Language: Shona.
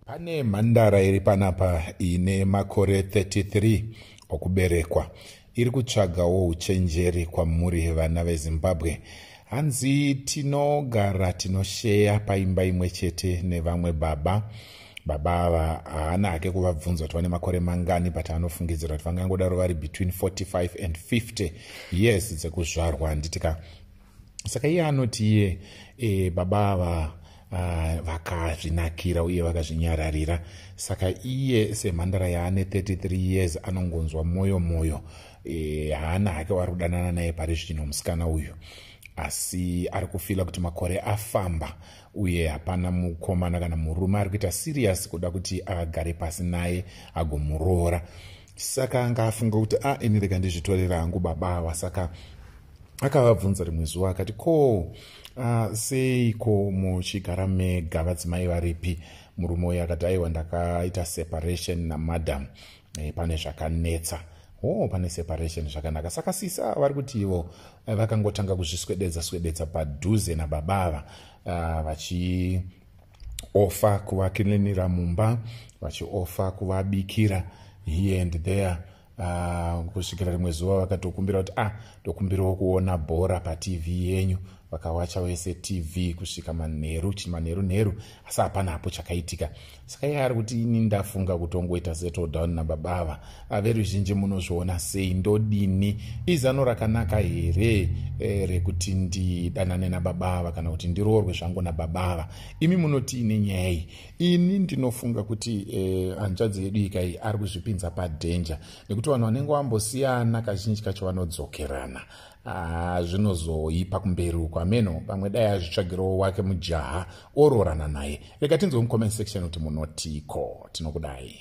Pane mhandara iri panapa ine makore 33 okuberekwa iri kutsvagawo uchenjeri kwamuri vana vezimbabwe hanzi tinogara tinosheya paimba imwe chete nevamwe baba baba ava haana hake kuvabvunza kuti vane makore mangani but anofungidzira kuti vangangodaro vari between 45 and 50 years dzekuzvarwa handiti ka saka iye anoti iye e, baba ava Ah, vakazvinakira uye vakazvinyararira saka iye semhandara yaane 33 years anongonzwa mwoyo mwoyo eh, haana hake wari kudanana naye pari zvino musikana uyu asi ari kufila kuti makore afamba uye hapana mukomana kana murume ari kuita siriyasi kuda kuti agare pasi naye agomuroora saka anga afunga kuti a ah, ini rega ndizvitorera hangu baba awa saka akavabvunza rimwe zuva akati ko uh, seiko muchigara mega vadzimai varipi murume uyo akati aiwa ndakaita separation namadam e, pane zvakanetsa o oh, pane separation zvakanaka saka sisa vari kuti ivo eh, vakangotanga kuzviswededza swededza padhuze nababa ava uh, vachi ofa kuvakilinira mumba vachiofa kuvabikira here and there uh, kusvikira rimwe zuva vakatokumbira kuti ah ndokumbirawo kuona bhora patv yenyu vakawacha wese tv kusvika manheru chii manheru nheru asi hapana hapo chakaitika saka iye ari kuti ini ndafunga kutongoita settle down nababa ava veruzhinji munozviona sei ndodini izano rakanaka here e, rekuti ndidanane nababa ava kana kuti ndiroorwe zvangu nababa ava imi munoti ine nyaya iyi ini ndinofunga kuti e, hanzvadzi yedu ika iyi ari kuzvipinza padhenja nekuti vanhu vanenge vambosiyana kazhinji kacho vanodzokerana ah, zvinozoipa kumberi uko ameno pamwe dai azvitsvagirowo wake mujaha oroorana naye rega tinzwe mucomment section kuti munotiko tinokudai